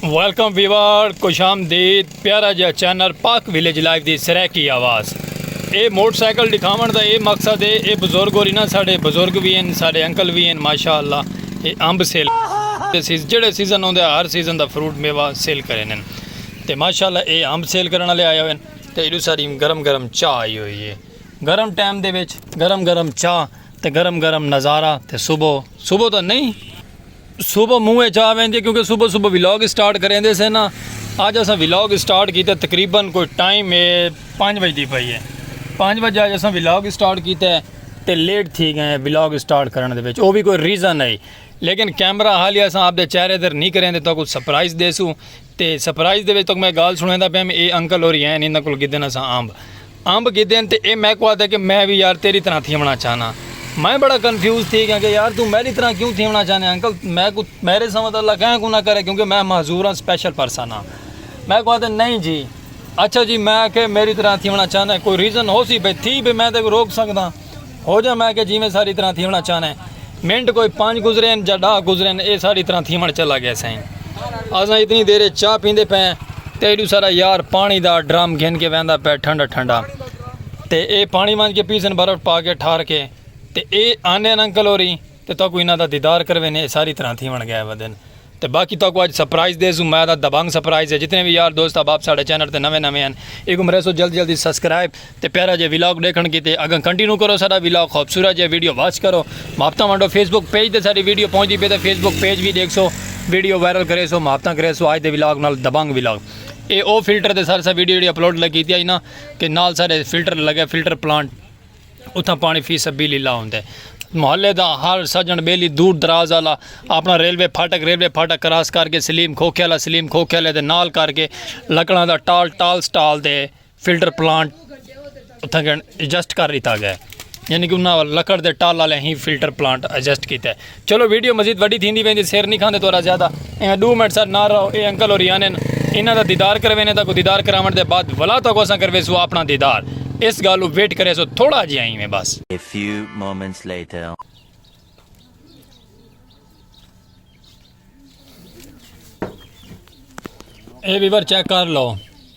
Welcome ویوار خوش آمدید پیارا جا چینل پاک ویلیج لائف دی سرائیکی آواز اے موٹر سائیکل دکھاون دا اے مقصد ہے اے بزرگ ہو رہی نا ساڑے بزرگ بھی ہیں ساڑے انکل بھی ہیں ماشاءاللہ اے امب سیل جڑے سیزن ہوندے ہر سیزن دا فروٹ میوہ سیل کرے نن تے ماشاءاللہ اے امب سیل کرن والے آئے ہوئے ہیں تے ایڈو ساری گرم گرم چاہ آئی ہوئی ہے گرم ٹائم دے وچ گرم گرم چاہ تے گرم گرم نظارہ تے صبح صبح تو نہیں صبح منہ وچ آ ویندی کیونکہ صبح صبح ولاگ سٹارٹ کریندے سے نا اج اساں ولاگ سٹارٹ کیتا تقریبا کوئی ٹائم اے 5 بجے دی پئی ہے 5 بجے اج اساں ولاگ سٹارٹ کیتا ہے تے لیٹ تھی گئے ہیں ولاگ سٹارٹ کرن دے وچ او بھی کوئی ریزن ہے لیکن کیمرہ حالیہ اساں اپ دے چہرے تے نہیں کریندے تو کوئی سرپرائز دیسوں تے سرپرائز دے وچ تہاکوں میں گالھ سنڑیندا پیاں اے انکل ہوری ہین انہاں کول گھدن اساں امب امب گھدن تے اے میکوں آہدے کہ میں وی یار تیڈی طرحاں تھیونڑاں چاہناں میں بڑا کنفیوز تھی گیاں کہ یار توں میڈی طرحاں کیوں تھیونڑاں چاہنے انکل میکوں میڈے سوا تاں اللہ کہیں کوں نہ کرے کیونکہ میں معذور آں سپیشل پرسن آں میکوں آہدے نہیں جی اچھا جی میں آکھیا میڈی طرحاں تھیونڑاں چاہنے کوئی ریزن ہوسی بھئی تھی بھئی میں تیکوں روک سکداں۔ ہو جا میں کہ جیویں ساڑی طرح تھیونا چاہنا ہے منٹ کوئی پانچ گزرین جا ڈاہ گزرین اے ساڑی طرح تھیون چلا گیا سائیں آزاں اتنی دیرے چاہ پیندے پہ تیڈو سارا یار پانی دا ڈرام گھن کے ویندا پہ ٹھنڈا ٹھنڈا تے اے پانی وانج کے پیسن برف پا کے ٹھار کے تے اے آنے انکل ہو رہی تے تہاکوں انہاں دا دیدار کروینے اے ساری طرحاں تھیوݨ گئے ودن تے باقی تہاکوں اج سرپرائز دیسوں مزہ دا دبنگ سرپرائز اے جتنے وی یار دوست احباب ساڈے چینل تے نویں نویں ہن ایکوں مریسوں جلد جلد اچ سبسکرائب تے پیارا جیہا ولاگ ڈیکھݨ کیتے اگاں کنٹینو کرو ساڈا ولاگ خوبصورت جیہا ویڈیو واچ کرو محبتاں ونڈو فیس بک پیج تے ساڈی ویڈیو پہنچدی پئی تے فیس بک پیج وی ڈیکھسو ویڈیو وائرل کریسو محبتاں کریسو اج دے ولاگ نال دبنگ ولاگ اے او فلٹر تے سارسا ویڈیو جیہڑی اپلوڈ لگی کیتی ائی نا کہ نال ساڈے فلٹر لگے فلٹر پلانٹ اتھاں پاݨی فی سبیل اللہ ہوندا ہے۔ محلے دا ہر سڄݨ ٻیلی دور دراز آلا آپݨا ریلوے پھاٹک ریلوے پھاٹک کراس کر کے سلیم کھوکھے آلا سلیم کھوکھے آلے دے نال کر کے لکڑاں دا ٹال ٹال سٹال تے فلٹر پلانٹ اتھاں کن ایڈجسٹ کر ݙتا ڳیا ہے یعنی کہ انہاں لکڑ دے ٹال آلے ہی فلٹر پلانٹ ایڈجسٹ کیتا ہے۔ چلو ویڈیو مزید وڈی تھیندی ویندی سر نہیں کھاندے تورا زیادہ ایویں دو منٹ سر نہ رہو اے انکل ہوری آنے انہاں دا دیدار کروینے تاکو دیدار کراون دے بعد ولا تاکو اساں کرویسو اپنا دیدار اس گالو ویٹ کریسو تھوڑا جیاں ایویں بس۔ A few moments later. اے ویور چیک کر لو۔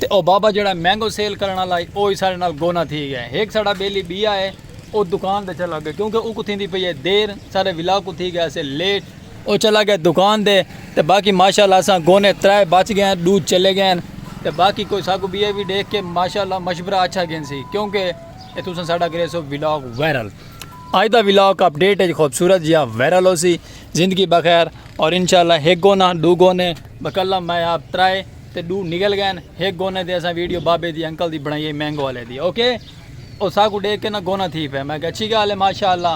تے او بابا جیڑھا مینگو سیل کرݨ آلا ہئی او وی ساݙے نال گونہ تھی ڳیا ہے۔ ہک ساݙا ٻیلی ٻیا ہے او دکان تے چلا ڳیا کیونکہ اوکوں تھیندی پئی ہے دیر سارے ولاگ کوں تھی ڳیا سے لیٹ۔ او چلا ڳیا دکان تے تے باقی ماشاء اللہ اساں گونے ترائے بچ ڳئے ہن ݙو چلے ڳئے ہن تے باقی کوئی ساکوں ٻیا وی ݙیکھ کے ماشاء اللہ مشورہ اچھا گھنسی کیونکہ اے تساں ساݙا کریسو ولاگ وائرل۔ اڄ دا ولاگ اپ ڈیٹ اچ خوبصورت جیہا وائرل ہوسی۔ زندگی بخیر اور انشاء اللہ ہک گونہ ݙو گونے بکلم میں آپ ترائے۔ تے ڈو نگل گئن ہک گونہ تے اساں ویڈیو بابے دی انکل دی بنڑائی اے مینگو والے دی اوکے او ساکوں ڈیکھ کے نا گونہ تھی پئے میں کہ اچھی گال اے ماشاءاللہ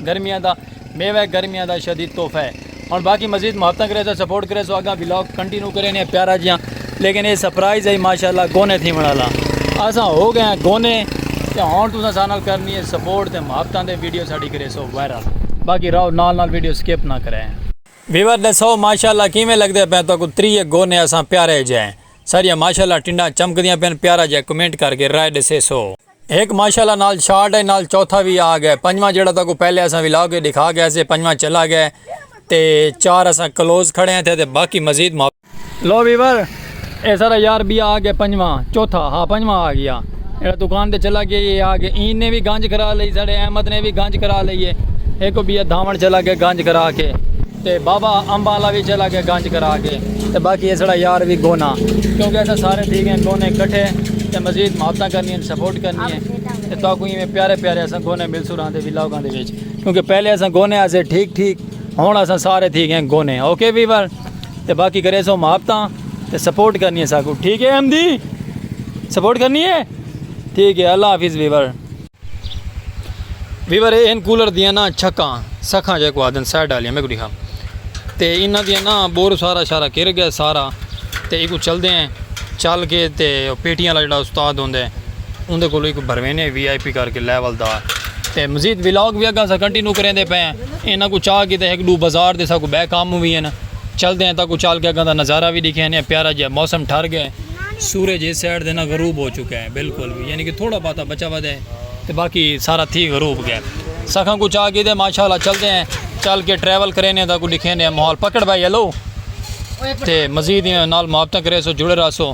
گرمیاں دا میوہ اے گرمیاں دا شدید تحفہ اے ہن باقی مزید محبتاں کرے سو سپورٹ کرے سو اگاں ولاگ کنٹینیو کرے نے پیارا جیاں لیکن اے سرپرائز اے ماشاءاللہ گونے تھی بنا لا اساں ہو گئے ہیں گونے تے ہن تساں سانال کرنی اے سپورٹ تے محبتاں دے ویڈیو ساڈی کرے سو وائرل باقی راو نال نال ویڈیو سکپ نہ کرے ویور ڈسو ماشاءاللہ کیویں لگدے پئے تہاکوں تریے گو نے اساں پیارے جئے ساریاں ماشاءاللہ ٹنڈاں چمکدیاں پئن پیارا جئے کمنٹ کر کے رائے ڈسیسو۔ ہک ماشاءاللہ نال شارٹ اے نال چوتھا وی آ گئے پنجواں جیڑھا تہاکوں پہلے اساں ولاگ اچ ڈکھا گئے سے پنجواں چلا گئے تے چار اساں کلوز کھڑے ہیں اتھے تے باقی مزید ماپ۔ لو ویور اے سارا یار بی آ گیا پنجواں چوتھا ہا پنجواں آ گیا ایڑا دکان تے چلا گیا یہ آ گیا این نے بھی گنج کرا لئی ساڑے احمد نے بھی گنج کرا لئی ہے ایک کو بیا دھاون چلا گیا گنج کرا کے تے بابا امبا لا بھی چلا گیا گنج کرا کے تے باقی یہ ساڑا یار بھی گونا کیونکہ ایسا سارے تھی گئے گونے کٹھے تے مزید محبتاں کرنی ہیں سپورٹ کرنی ہیں تے تو کوئی میں پیارے پیارے ایسا گونے مل سو رہاں دے بھی لوگاں دے بیچ کیونکہ پہلے ایسا گونے ایسے ٹھیک ٹھیک ہونا ایسا سارے تھی گئے گونے اوکے ویور تے باقی کرے سو محبتاں تے سپورٹ کرنی ہے ساکو ٹھیک ہے ایم دی سپورٹ کرنی ہے ٹھیک ہے اللہ حافظ ویور ویور اے ان کولر دیاں نا چھکاں سکھاں جے کو آدن سائڈ والیاں میں کو دکھا تے انہاں دیاں نا بور سارا شارا کر گیا سارا تے ایکو چل دے ہیں چل کے تے پیٹیاں والا جڑا استاد ہوندے اون دے کولو ایکو بھروینے وی آئی پی کر کے لیول دا تے مزید ولاگ وی اگاں اساں کنٹینو کریندے پئے آں انہاں کوں چا کیتے ہک ڈو بازار دے ساکوں بئے کام وی ہن چلدے آں تاکوں چل کے اگاں دا نظارہ وی ڈیکھے ہنیاں پیارا جیا موسم ٹھر گئے سورج اس سائیڈ دے نا غروب ہو چکا ہے بالکل وی یعنی کہ تھوڑا باتا بچا ودے تے باقی سارا تھی غروب گئے سکھاں کوں چا کیتے ماشاءاللہ چلدے ہیں چل کے ٹریول کرینے تاکوں ڈیکھینے ماحول پکڑ بھائی ہلو تے مزید نال محبتاں کریسو جڑے رہسو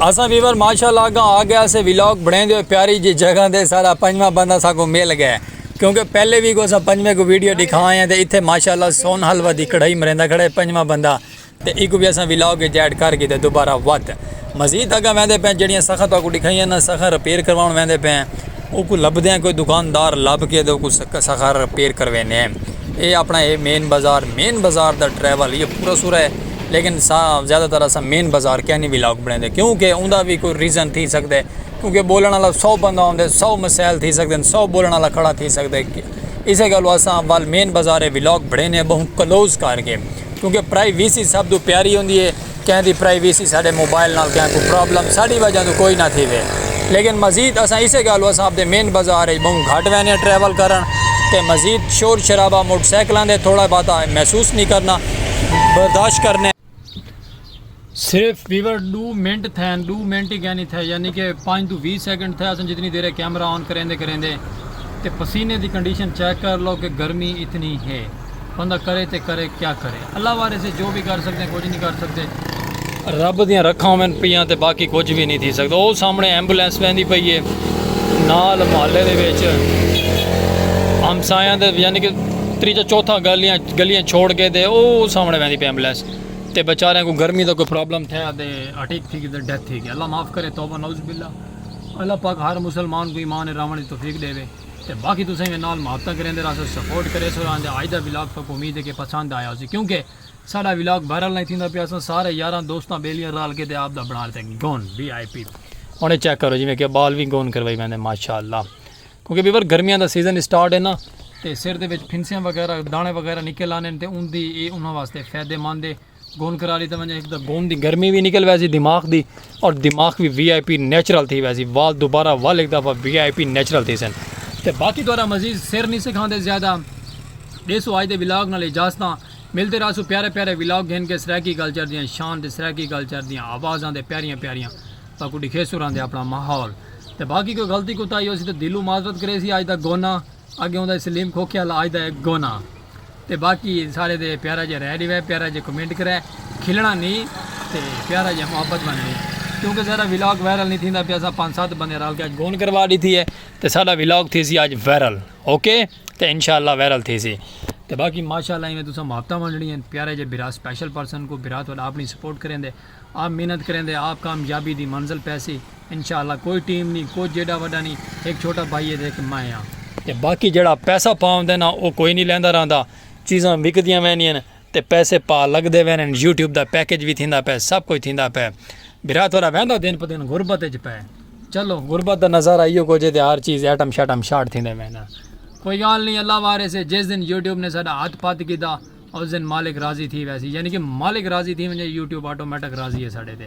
اسا ویور ماشاءاللہ گا آ گیا اسے ویلاگ بڑھیں دے پیاری جی جگہ دے سارا پنجواں بندہ سا کو مل گئے کیونکہ پہلے بھی کو سا پنجویں کو ویڈیو دکھا آئے ہیں تے اتھے ماشاءاللہ سون حلوہ دی کڑھائی مریندہ کھڑے پنجواں بندہ تے ایکوں وی اساں ویلاگ اچ ایڈ کر گھیدا دوبارہ وت مزید اگاں ویندے پئے جیڑھیاں سخاں تہاکوں ڈکھائیاں نا سخاں رپیئر کرواون ویندے پئے اوکوں لبھدیاں کوئی دکاندار لب کے تو اوکوں سخاں رپیئر کروینے اے اپنا اے مین بازار مین بازار دا ٹریول یہ پورا سورا ہے لیکن زیادہ تر اساں مین بازار کیا نی ویلاگ بنیندے کیونکہ اوندا وی کوئی ریزن تھی سکدے کیونکہ بولن والا سو بندہ ہوندے سو مسائل تھی سکدے سو بولن والا کھڑا تھی سکدے اسے گالوں اساں اول مین بازار ولاگ بنڑینے آں بہوں کلوز کر کے کیونکہ پرائی ویسی سب توں پیاری ہوندی ہے کہیں دی پرائی ویسی ساڈے موبائل نال کہیں کوں پرابلم ساڈی وجہ توں کوئی نہ تھی وے لیکن مزید اساں اسے گالوں اساں اپنے مین بازار اچ بہوں گھٹ وینے آں ٹریول کرن تے مزید شور شرابہ موٹر سائیکلاں دے تھوڑا بہت محسوس نہیں کرنا برداشت کرنے صرف ویور ڈو منٹ تھے ڈو منٹ ہی کہنی تھے یعنی کہ پانچ تو بیس سیکنڈ تھے اسن جتنی دیر کیمرہ آن کریندے کریندے تے پسینے دی کنڈیشن چیک کر لو کہ گرمی اتنی ہے بندہ کرے تے کرے کیا کرے اللہ وارے سے جو بھی کر سکتے ہیں کچھ نہیں کر سکتے رب دیاں رکھاں میں پیاں تے باقی کچھ بھی نہیں تھی سکتا وہ سامنے ایمبولینس ویندی پئی ہے نال محلے دے وچ ہمسایاں دے یعنی کہ تریجا چوتھا گالیاں گلیاں چھوڑ کے تے او سامنے ویندی پی ایمبولینس تے بیچاریاں کو گرمی دا کوئی پرابلم تھیا تے اٹیک تھی گیا تے ڈیتھ تھی گیا اللہ معاف کرے توبہ نعوذ باللہ اللہ پاک ہر مسلمان کو ایمان راون دی توفیق ڈیوے تے باقی تساں وی نال محبتاں کریندے رہسو سپورٹ کریسو راں دے اج دا ولاگ تو کو امید ہے کہ پسند آیا ہوسی کیونکہ ساڈا ولاگ وائرل نہیں تھیندا پیا اساں سارے یاراں دوستاں بیلیاں رال کے تے آپ دا بنا لیتے گون وی آئی پی ہن چیک کرو جویں کہ بال وی گون کروائی ویندے ماشاءاللہ کیونکہ ویور گرمیاں دا سیزن اسٹارٹ ہے نا تے سر دے وچ پھنسیاں وغیرہ دانے وغیرہ نکل آنے تے ان دی اے انہاں واسطے فائدہ مند ہے گون کرا لیتا ونجے ایک دا گون دی گرمی بھی نکل ویسی دماغ دی اور دماغ بھی وی آئی پی نیچرل تھی ویسی وال دوبارہ وال ایک دفعہ وی آئی پی نیچرل تھی سن تے باقی دوارا مزید سر نہیں سکھاندے زیادہ دے سو آج دے ولاگ نال اجازتاں ملتے رہا سو پیارے پیارے ولاگ گھن کے سرائکی کلچر دیاں شان تے سرائکی کلچر دیاں آوازاں دے پیاریاں پیاریاں تاکو ڈکھے سو رہندے اپنا ماحول تے باقی کوئی غلطی کوتاہی ہوسی تے دلوں معذرت کریسی آج دا گونہ اگے ہوندا سلیم کھوکھے آلا آج دا ہے گونہ تے باقی سارے دے پیارا جے رہ ڈیوے پیارا جے کمنٹ کرے کھلنا نی تے پیارا جے محبت بننی کیونکہ سارا ویلاگ وائرل نی تھیندا پیا سا پانچ سات بندے رال کے گون کروا ڈیتی ہے تے سارا ویلاگ تھیسی آج وائرل اوکے تے انشاءاللہ وائرل تھیسی تے باقی ماشاءاللہ ایویں تساں محبتاں ونڈنی ہیں پیارا جے برا سپیشل پرسن کو برا تو اپنی سپورٹ کریں دے آپ محنت کریندے آپ کامیابی دی منزل پیسی انشاءاللہ کوئی ٹیم نی کجھ ایڈا وڈا نی ہک چھوٹا بھائی ہے تے ہک میں ہاں۔ تے باقی جیڑھا پیسہ پا ہوندے نا او کوئی نی لیندا رہندا چیزاں وکدیاں ویندین تے پیسے پا لگدے وینن یوٹیوب دا پیکج وی تھیندا پئے سب کجھ تھیندا پئے بھرا تھوڑا ویندا دن پہ دن غربت اچ پئے چلو غربت دا نظارہ ایو کجھ ہے تے ہر چیز ایٹم شیٹم شارٹ تھیندے ویندن کوئی گال نی اللہ وارث ہے جس دن یوٹیوب نے ساڈا ہتھ پتھ کیتا اس دن مالک راضی تھی ویسی یعنی کہ مالک راضی تھی ونجے یوٹیوب آٹومیٹک راضی ہے ساڑے تے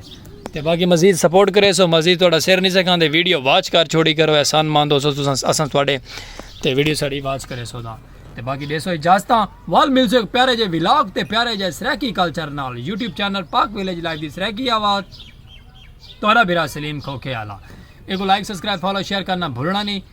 تے باقی مزید سپورٹ کرے سو مزید تھوڑا سر نہیں سکاں دے ویڈیو واچ کر چھوڑی کرو احسان مند ہو سو تساں اساں تھوڑے تے ویڈیو ساڑی واچ کرے سو دا تے باقی دے سو اجازتاں وال مل سو پیارے جے ولاگ تے پیارے جے سریکی کلچر نال YouTube channel Pak village life دی سریکی آواز تھوڑا برا سلیم کھوکھے آلا ایک لائک سبسکرائب فالو شیئر کرنا بھولنا نہیں